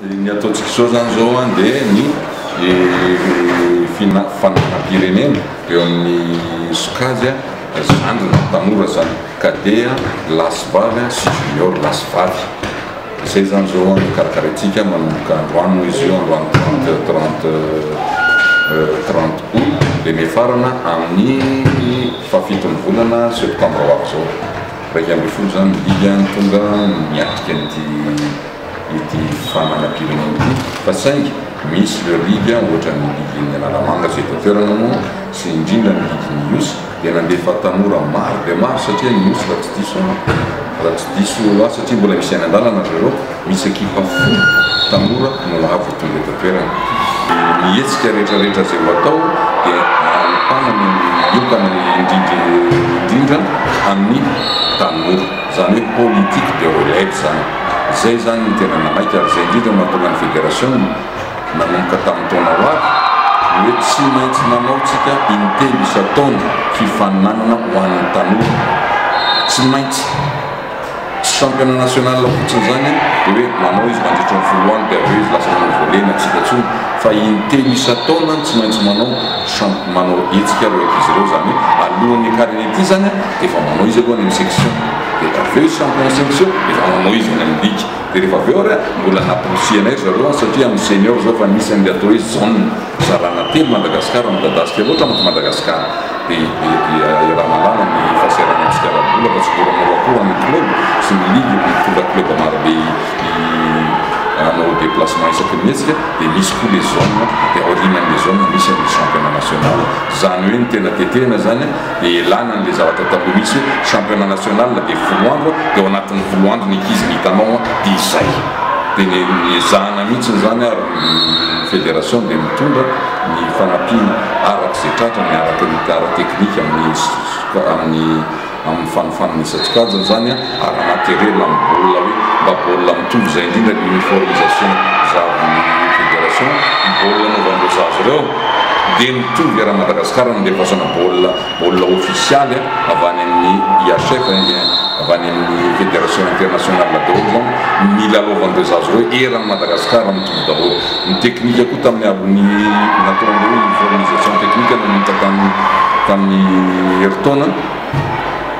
Ny ataontsika izao izany izao an dia ny fifanaraham-pirenena eo amin'ny sokajy an, zandriny ny tanora izany, cadet an, lahy sy vavy an, sy junior lahy sy vavy. Izay izany izao an no karakaraintsika manomboka androany moa izy io, androany trente trente trente aout dia miafarana amin'ny fahafiton'ny volana septambra ho avy izao. Iraika ambin'ny folo izany ny didy an, tonga miatrika an'ity ity fananam-pirenena ity fa saingy misy ireo ligue ohatran'ny ligen'ny Analamanga izay eto an-toerana moa sy indrindra ny ligen'ny Ihosy dia nandefa tanora maro dia maro satria ny Ihosy raha tsy diso aho raha tsy diso aho satria mbola misy any an-dalana ry zareo Misy ekipa folo tanora no nahavoatonga eto an-toerana. Dia ny hetsika rehetrarehetra izay ho atao dia ahitana ny miokana indrindra indrindra amin'ny tanora. Izany hoe politique de relève izany. Izay izany no tena nanaiky ary izay indrindra no nahatonga ny federasiona nanomboka tamin'ny taona ho avy ny hoe tsy maintsy manao tsika intelo isan-taona fifaninanana ho an'ny tanora. Tsy maintsy. Tsy championnat national fotsiny izany an, dia hoe nanao izy mandritry ny folo andro dia avy eo izy lasa manao volena, tsy hita intsony, fa intelo isan-taona an tsy maintsy manao champ, manao hetsika ireo ankizy ireo, izany hoe alohan'ny hiakarany aty izany an dia efa manao izy aloha any amin'ny section, dia avy eo izy champion section dia efa manao izy any amin'ny ligue, dia rehefa avy eo ary an mbola namporisihanay ry zareo an satria amin'ny senior izao efa nisy an'ilay atao hoe zone. Zalana telo Madagasikara midadasika loatra mantsy Madagasikara dia iarahana lalina ny fahasahiranana antsika ara-bola fa tsy moramora akory ny club sy ny ligue no mitondra club marobe hanao déplacement isaky ny hetsika dia misy koa le zone dia aoriana anle zone misy anle championnat national zany hoe ny tena tetehina zany dia elana anle zavatra taloha misy hoe championnat national dia folo andro dia ao anatin'ny folo andro ny ankizy no hitanao dia izay dia ny ezahana mihitsy zany ary Ny Federation dia mitondra ny fanampiana araka izay tratrany araka ny ara-teknika amin'ny amin'ny fanofanana isan-tsokajiny izany ary materiel amin'ny baolina hoe mba baolina mitovy izay indrindra ny uniformisation zavin'ny Federation ny baolina anaovan'ireo zaza ireo dia mitovy eran'i Madagasikara no andefasana baolina baolina ofisialy a, avy any amin'ny IHF hein, dia avy any amin'ny Fédération Internationale daholo izany, nilalaovan'ireo zaza ireo, eran'i Madagasikara mitovy daholo. Ny teknika koa tamin'ny avy ny natao an'ireo uniformisation technique nanomboka tamin'ny tamin'ny herintaona,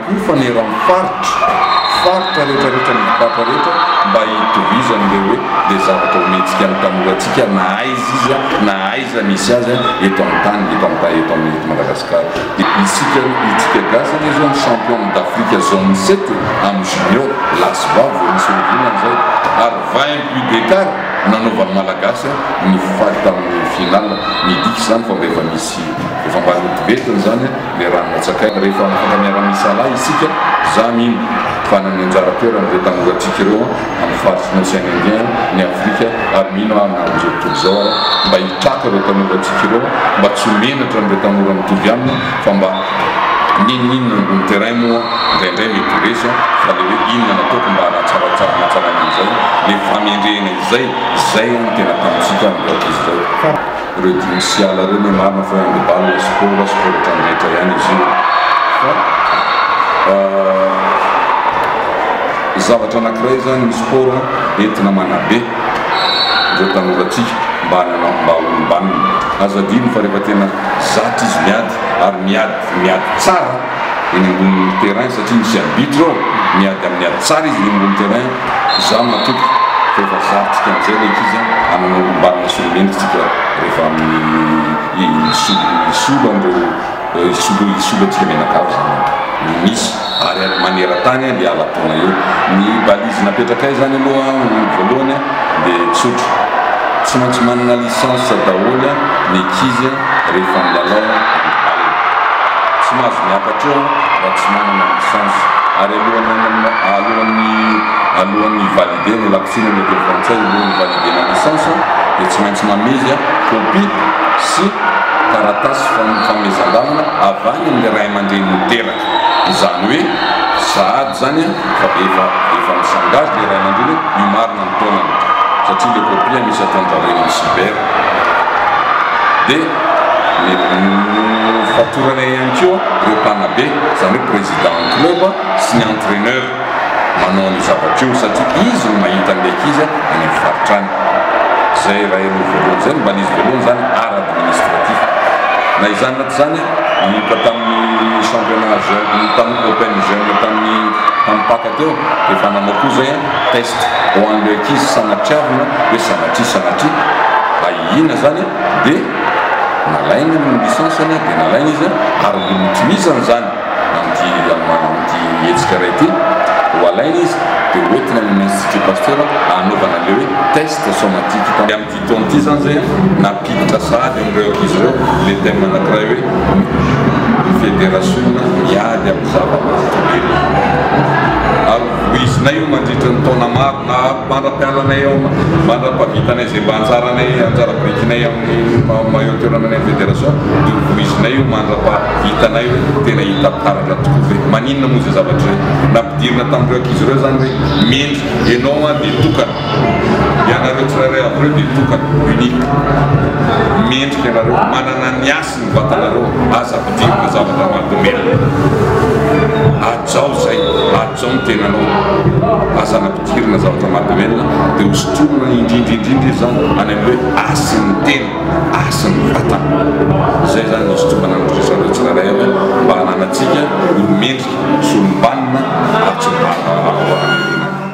Ho faneran'ny faritra, faritra rehetrarehetra ny dibata rehetra mba hitovizany ilay hoe dia zavatra omentsika ny tanorantsika na aiza iza na aiza misy azy eto amin'ny tany, eto amin'ny eto amin'ny eto Madagasikara. Dia isika isika gasy anie izao ny champion d'Afrique zone sept amin'ny junior, lahy sy vavy vao misy horonana izay ary vingt buts d'écart nanaovan'ny Malagasy ny faty tamin'ny finale, midika izany fa mba efa misy efa mba notivetiny izany. Ilay rano natsakaina rehefa mifanka miara-miisa lahy isika, za mino fa nanome anjara toerana ireo tanora antsika ireo amin'ny faritry ny Ocean Indien, ny Afrika ary mino aho na amin'izao tontolo izao aza mba hitraka ireo tanora antsika ireo mba tsy ho menatra an'ireo tanora mitovy aminy fa mba N'inon'inona ambony terrain moa indraindray mety ho resy an, fa ilay hoe inona no ataoko mba hanatsaratsara hanatsaraina an'izay, ilay famendrehana izay, izay an no tena ataontsika amin'izao tontolo izao. Ireo dimy sy ala ireo no marina fa handibal na sport aza fa ohatran'ny rehetra ihany izy io fa zavatra anakiray zany ny sport entina manabe ireo tanorantsika mba hanana mba olombanona aza adino fa rehefa tena zatra izy miady ary miady miady tsara eny ambony terrain satria misy arbitre ao miady amin'ny ady tsara izy eny ambony terrain za matoky fa efa zarintsika amizay ilay ankizy a hanana olombanona sy olomendrika tsika rehefa amin'ny hisolo hisolo an'ireo hisolo hisolo antsika mianakavy zany no misy ary any maneratany a hiala taona eo ny balise napetrakay zany aloha voalohany a dia tsotra tsy maintsy manana licence daholo ny ankizy a. rehefa milalao ny baolina. Tsy mahazo miakatra eo raha tsy manana licence. Ary alohan'ny alohan'ny hi-valider ny lakotsina ny autorité frantsay no hi-valider-na licence dia tsy maintsy mamezy copie sy taratasy fanomezan-dalana avy any amin'ny ray aman-drenin'ny teraka. Izany hoe sahady izany fa efa efa mi-s'engage ilay ray aman-dreny hoe io marina ny taonany satria ilay copie misy ataon-dry zareo eny amin'ny cyber. dia nofatoranay ihany koa ireo mpanabe, izany hoe président ny club sy ny entraineur manao an'io zavatra io satria izy no mahita an'ilay ankizy any amin'ny faritra any. Izay iray aloha voalohany, izay no mba nisy voalohany izany art administratif. Na izany na tsy izany, nanomboka tamin'ny championnat jeune, tamin'ny open jeune tamin'ny Ampaka teo dia efa nanao koa izay test. ho an'ireo ankizy sanatriavina hoe sanatria sanatria ahihiana izany dia nalainy ny licence-ny dia nalainy izy ary notohizany izany amin'ity amin'ity hetsika iray ity ho alainy izy dia hoentina amin'ny institut pasteur hanaovana an'ilay hoe test somatique Fotoana ity izany izay nampiditra sahady amin'ireo ankizy ireo ilay thème anankiray hoe ny federasiona miady amin'ny zava-mahazo velona. Ary voizinay io mandritra ny taona maro na mandra-pialanay eo, mandra-pahavitanay izay mba anjaranay, anjara birikinay amin'ny maillot toerananay amin'ny federasiona, dia hovoizinay io mandra-pahavitanay hoe tena hita taratra tokoa ve? Maninona moa izay zavatra izay? Nampidirina tamin'ireo ankizy ireo izany hoe mendrika, ianao dia tokana. ianareo tsirairay avy ireo dia tokana, unique, mendrika ianareo, manana ny hasiny ny vatanareo, aza ampidirina zavatra mahadomelina, hajao izay, hajao ny tenanao, aza ampidirina zavatra mahadomelina, dia hosotroina indrindra indrindra izy izany any amin'ny hoe hasin'ny tena, hasin'ny vatana, izay izany no hisotroana ny rivotra anareo tsirairay avy mba hananantsika olo-mendrika sy olom-banona ary tsy mivaha-baha raha vao avy any ivelany.